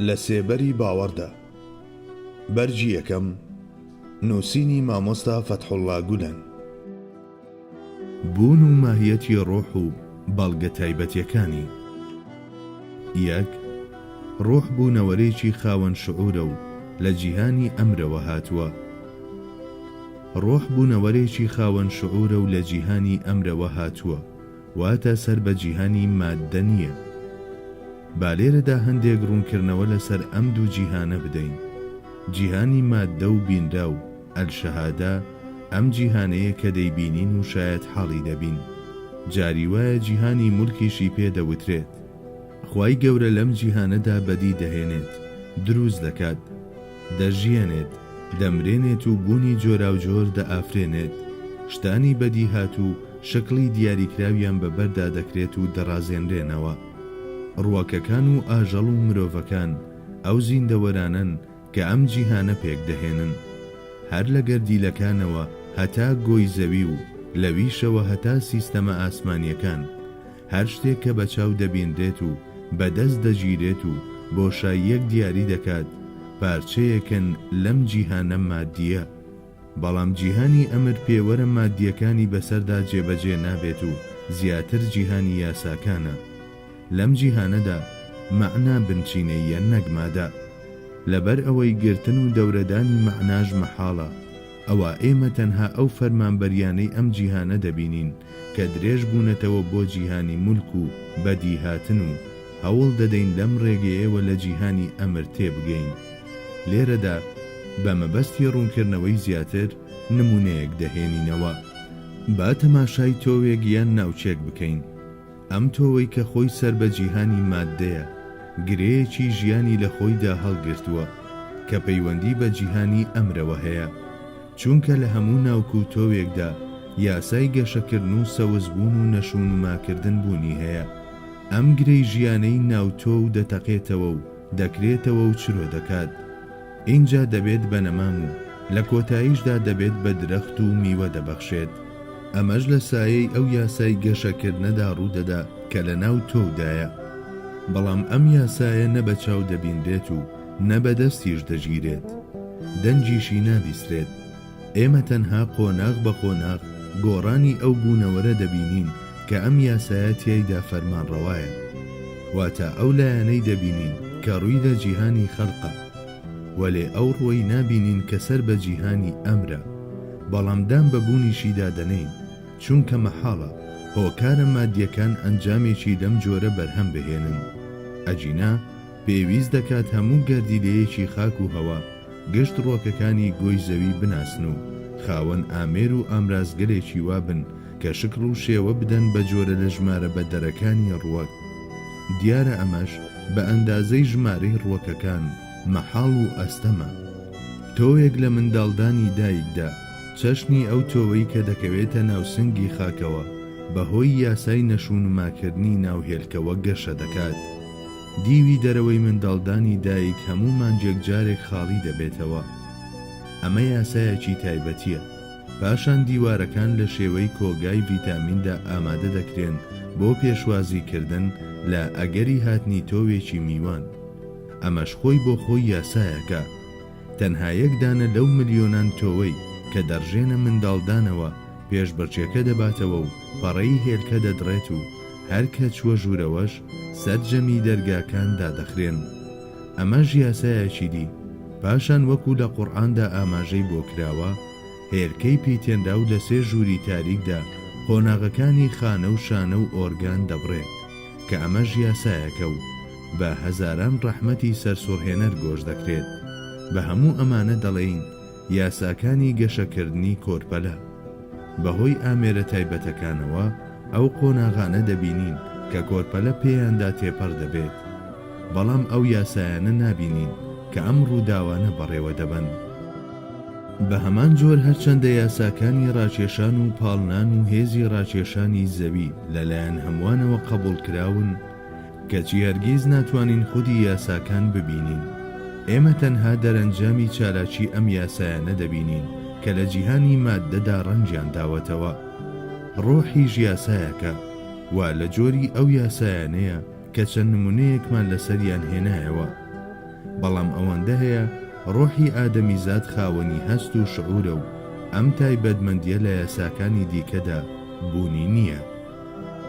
لە سێبەری باوەڕدا بەرگی یەکەم نووسینی مامۆستا فەتحوڵا گولەن بوون و ماهیەتی ڕۆح و بەڵگە تایبەتیەکانی یەک ڕۆح بوونەوەرێکی خاوەن شعورە و لە جیهانی ئەمرەوە هاتووە، ڕۆح بوونەوەرێکی خاوەن شعورە و لە جیهانی ئەمرەوە هاتووە، واتە سەر بە جیهانی ماددە نییە. با لێرەدا هەندێک ڕوونکردنەوە لەسەر ئەم دوو جیهانە بدەین. جیهانی ماددە و بینراو، الشهادە، ئەم جیهانەیە کە دەیبینین و شایەتحاڵی دەبین. جاری وایە جیهانی ملکیشی پێ دەوترێت. خوای گەورە لەم جیهانەدا بەدی دەهێنێت، دروست دەکات، دەژیەنێت، دەمرێنێت و بوونی جۆراوجۆر دەئافرێنێت، شتانی بەدیهات و شەکڵی دیاریکراویان بە بەردا دەکرێت و دەڕازێنرێنەوە. ڕووەکەکان و ئاژەڵ و مرۆڤەکان ئەو زیندەوەرانەن کە ئەم جیهانە پێک دەهێنن. هەر لە گەردیلەکانەوە هەتا گۆی زەوی و لەویشەوە هەتا سیستەمە ئاسمانییەکان. هەر شتێک کە بە چاو دەبینرێت و بە دەست دەگیرێت و بۆشاییەک دیاری دەکات، پارچەیەکن لەم جیهانە مادییە. بەڵام جیهانی ئەمر پێوەرە مادییەکانی بەسەردا جێبەجێ نابێت و زیاتر جیهانی یاساکانە. لەم جیهانەدا مەعنا بنچینەییە نەک مادە. لەبەر ئەوەی گرتن و دەورەدانی مەعناش مەحاڵە. ئەوا ئێمە تەنها ئەو فەرمانبەریانەی ئەم جیهانە دەبینین کە درێژ بوونەتەوە بۆ جیهانی مولک و بەدیهاتن و هەوڵ دەدەین لەم ڕێگەیەوە لە جیهانی ئەمر تێبگەین. لێرەدا بە مەبەستی ڕوونکردنەوەی زیاتر نموونەیەک دەهێنینەوە. با تەماشای تۆوێک یان ناوچەێک بکەین. ئەم تۆوەی کە خۆی سەر بە جیهانی ماددەیە، گرێیەکی ژیانی لە خۆیدا هەڵگرتووە، کە پەیوەندی بە جیهانی ئەمرەوە هەیە، چونکە لە هەموو ناوک و تۆوێکدا یاسای گەشەکردن و سەوزبوون و نەشونماکردن بوونی هەیە، ئەم گرێی ژیانەی ناو تۆو دەتەقێتەوە و دەکرێتەوە و چرۆ دەکات. ئینجا دەبێت بە نەمام و لە کۆتاییشدا دەبێت بە درەخت و میوە دەبەخشێت. ئەمەش لە سایەی ئەو یاسای گەشەکردنەدا ڕوودەدا کە لەناو تۆودایە. بەڵام ئەم یاسایە نە بە چاو دەبینرێت و نە بە دەستیش دەگیرێت. دەنگیشی نابیسرێت. ئێمە تەنها قۆناغ بە قۆناغ گۆڕانی ئەو بوونەوەرە دەبینین کە ئەم یاسایە تیایدا فەرمانڕەوایە. واتە ئەو لایەنەی دەبینین کە ڕووی لە جیهانی خەلقە. وەلێ ئەو ڕووەی نابینین کە سەر بە جیهانی ئەمرە. بەڵام دان بە بوونیشیدا دەنێین، چونکە مەحاڵە هۆکارە مادیەکان ئەنجامێکی لەم جۆرە بەرهەم بهێنن. ئەگینا پێویست دەکات هەموو گەردیلەیەکی خاک و هەوا گشت ڕوەکەکانی گۆی زەوی بناسن و خاوەن ئامێر و ئامرازگەلێکی وا بن کە شکڵ و شێوە بدەن بە جۆرە لە ژمارە بە دەرەکانی ڕوەک. دیارە ئەمەش بە ئەندازەی ژمارەی ڕوەکەکان مەحاڵ و ئەستەمە. تۆوێک لە منداڵدانی دایکدا، چەشنی ئەو تۆوەی کە دەکەوێتە ناو سنگی خاکەوە بە هۆی یاسای نەشونماکردنی ناو هێلکەوە گەشە دەکات. دیوی دەرەوەی منداڵدانی دایک هەموو مانگێک جارێک خاڵی دەبێتەوە، ئەمە یاسایەکی تایبەتییە، پاشان دیوارەکان لە شێوەی کۆگای ڤیتامیندا ئامادە دەکرێن بۆ پێشوازیکردن لە ئەگەری هاتنی تۆوێکی میوان، ئەمەش خۆی بۆ خۆی یاسایەکە، تەنها یەک دانە لەو ملیۆنان تۆوەی کە دەڕژێنە منداڵدانەوە پێشبڕکێکە دەباتەوە و پەڕەی هێلکە دەدڕێت و هەر کە چووە ژوورەوەش سەرجەمی دەرگاکان دادەخرێن. ئەمەش یاسایەکی دی. پاشان وەکو لە قورئاندا ئاماژەی بۆ کراوە، هێلکەی پیتێنراو لە سێ ژووری تاریکدا قۆناغەکانی خانە و شانە و ئۆرگان دەبڕێت، کە ئەمەش یاسایەکە و بە هەزاران ڕەحمەتی سەرسوڕهێنەر گۆش دەکرێت. بە هەموو ئەمانە دەڵێین، یاساکانی گەشەکردنی کۆرپەلە. بەهۆی ئامێرە تایبەتەکانەوە ئەو قۆناغانە دەبینین کە کۆرپەلە پێیاندا تێپەڕ دەبێت، بەڵام ئەو یاسایانە نابینین کە ئەم ڕووداوانە بەڕێوە دەبەن. بە هەمان جۆر هەرچەندە یاساکانی ڕاکێشان و پاڵنان و هێزی ڕاکێشانی زەوی لەلایەن هەمووانەوە قەبووڵ کراون، کەچی هەرگیز ناتوانین خودی یاساکان ببینین. ئێمە تەنها دەرەنجامی چالاکی ئەم یاسایانە دەبینین کە لە جیهانی ماددەدا ڕەنگیان داوەتەوە. ڕۆحیش یاسایەکە، وا لە جۆری ئەو یاسایانەیە کە چەند نمونەیەکمان لەسەریان هێنایەوە. بەڵام ئەوەندە هەیە ڕۆحی ئادەمیزاد خاوەنی هەست و شعورە و ئەم تایبەتمەندیە لە یاساکانی دیکەدا بوونی نییە.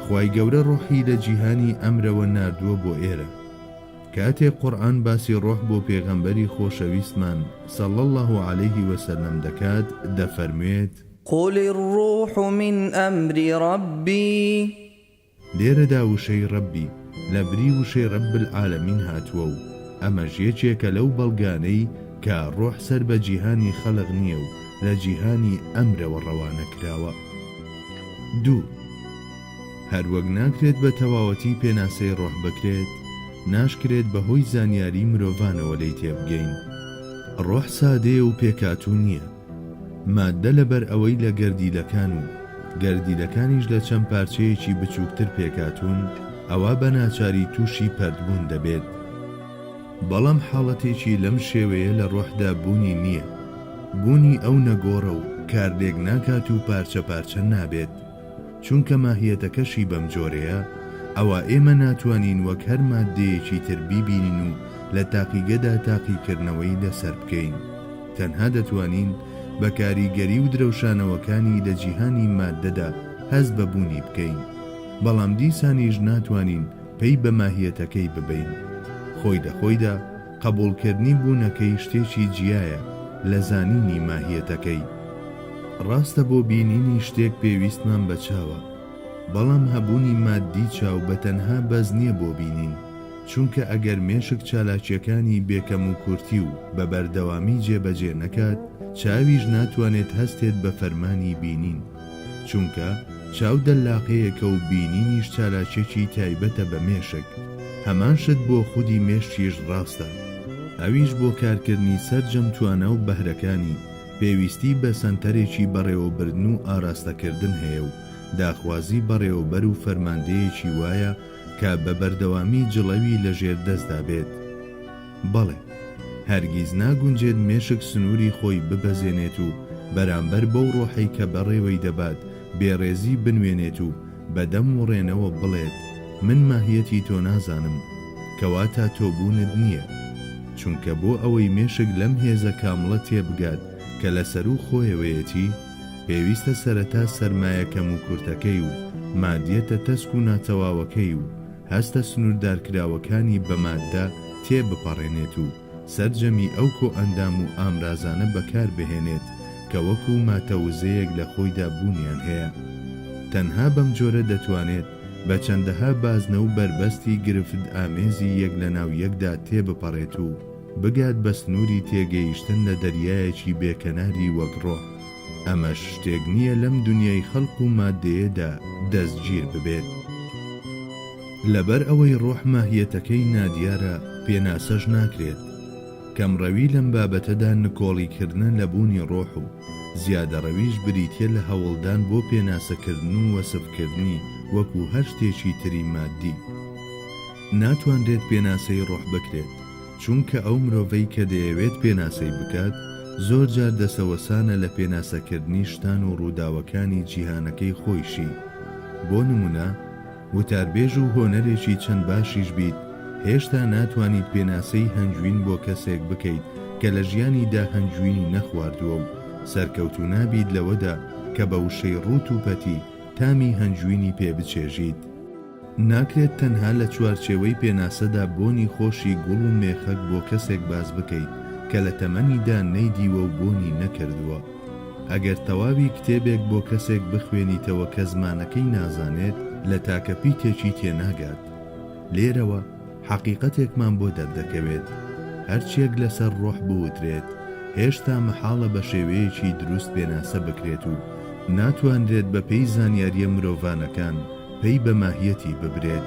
خوای گەورە ڕۆحی لە جیهانی ئەمرەوە ناردووە بۆ ئێرە کاتێ قورئان باسی ڕۆح بۆ پێغەمبەری خۆشەویستمان صلی اللە علیه وسلم دەکات دەفەرموێت. قل الروح من امر ربی. لێرەدا وشەی ربی لە بری وشەی رب العالمین هاتووە و ئەمەش یەکێکە لەو بەڵگانەی کە ڕۆح سەر بە جیهانی خەلق نییە و لە جیهانی ئەمرەوە ڕەوانە کراوە. دوو. هەروەک ناکرێت بە تەواوەتی پێناسەی ڕۆح بکرێت، ناشکرێت بەهۆی زانیاری مرۆڤانەوە لێی تێبگەین. ڕۆح سادەیە و پێکهاتوو نییە. ماددە لەبەر ئەوەی لە گەردیلەکان و گەردیلەکانیش لە چەند پارچەیەکی بچووکتر پێکهاتوون، ئەوا بە ناچاری تووشی پەرتبوون دەبێت. بەڵام حاڵەتێکی لەم شێوەیە لە ڕۆحدا بوونی نییە، بوونی ئەو نەگۆڕە و کارلێک ناکات و پارچە پارچە نابێت، چونکە ماهیەتەکەشی بەم جۆرەیە، ئەوا ئێمە ناتوانین وەک هەر ماددەیەکی تر بیبینین و لە تاقیگەدا تاقیکردنەوەی لەسەر بکەین، تەنها دەتوانین بە کاریگەری و درەوشانەوەکانی لە جیهانی ماددەدا هەست بە بوونی بکەین، بەڵام دیسانیش ناتوانین پەی بە ماهیەتەکەی ببەین. خۆی لە خۆیدا قەبووڵکردنی بوونەکەی شتێکی جیایە لە زانینی ماهیەتەکەی. ڕاستە بۆ بینینی شتێک پێویستمان بە چاوە، بەڵام هەبوونی ماددی چاو بە تەنها بەس نییە بۆ بینین، چونکە ئەگەر مێشک چالاکییەکانی بێ کەموکورتی و بە بەردەوامی جێبەجێ نەکات، چاویش ناتوانێت هەستێت بە فەرمانی بینین. چونکە چاو دەللاقەیەکە و بینینیش چالاکیەکی تایبەتە بە مێشک، هەمان شت بۆ خودی مێشکیش ڕاستە، ئەویش بۆ کارکردنی سەرجەم توانا و بەهرەکانی، پێویستی بە سەنتەرێکی بەڕێوەبردن و ئاراستەکردن هەیە و داخوازی بەڕێوەبەر و فەرماندەیەکی وایە کە بە بەردەوامی جڵەوی لەژێر دەستدا بێت. بەڵێ، هەرگیز ناگونجێت مێشک سنووری خۆی ببەزێنێت و بەرامبەر بەو ڕۆحەی کە بەڕێوەی دەبات بێڕێزی بنوێنێت و بە دەم وڕێنەوە بڵێت، من ماهیەتی تۆ نازانم، کەواتە تۆ بوونت نییە. چونکە بۆ ئەوەی مێشک لەم هێزە کامڵە تێبگات کە لە سەروو خۆیەوەیەتی، پێویستە سەرەتا سەرمایە کەموکورتەکەی و مادیەتە تەسک و ناتەواوەکەی و، هەستە سنووردارکراوەکانی بە ماددە تێ بپەڕێنێت و سەرجەمی ئەو کۆئەندام و ئامرازانە بەکار بهێنێت کە وەکوو ماتە وزەیەک لە خۆیدا بوونیان هەیە. تەنها بەم جۆرە دەتوانێت بە چەندەها بازنە و بەربەستی گرفتئامێزی یەک لە ناو یەکدا تێ بپەڕێت و بگات بە سنووری تێگەیشتن لە دەریایەکی بێ کەناری وەک ڕۆح. ئەمەش شتێک نییە لەم دونیای خەلق و ماددەیەدا دەستگیر ببێت. لەبەر ئەوەی رۆح ماهیەتەکەی نادیارە پێناسەش ناکرێت. کەمڕەوی لەم بابەتەدا نکۆڵی کردنە لە بوونی رۆح و زیادەڕەویش بریتیە لە هەوڵدان بۆ پێناسە کردن و وەسف کردنی وەکو هەر شتێکی تری ماددی. ناتوانرێت پێناسەی رۆح بکرێت. چونکە ئەو مرۆڤەی کە دەیەوێت پێناسەی بکات، زۆرجار دەسەوەسانە لە پێناسەکردنی شتان و ڕووداوەکانی جیهانەکەی خۆیشی. بۆ نموونە، وتاربێژ و هۆنەرێکی چەند باشیش بیت، هێشتا ناتوانیت پێناسەی هەنگوین بۆ کەسێک بکەیت کە لە ژیانیدا هەنگوینی نەخواردووە و سەرکەوتوو نابیت لەوەدا کە بە وشەی ڕووت و پەتی تامی هەنگوینی پێ بچێژیت. ناکرێت تەنها لە چوارچێوەی پێناسەدا بۆنی خۆشی گوڵ و مێخەک بۆ کەسێک باس بکەیت کە لە تەمەنیدا نەیدیوە و بۆنی نەکردووە. ئەگەر تەواوی کتێبێک بۆ کەسێک بخوێنیتەوە کە زمانەکەی نازانێت، لە تاکە پیتێکی تێناگات. لێرەوە حەقیقەتێکمان بۆ دەردەکەوێت، هەرچییەک لەسەر ڕۆح بوترێت، هێشتا مەحاڵە بە شێوەیەکی دروست پێناسە بکرێت و ناتوانرێت بەپێی زانیارییە مرۆڤانەکان، پەی بە ماهیەتی ببرێت.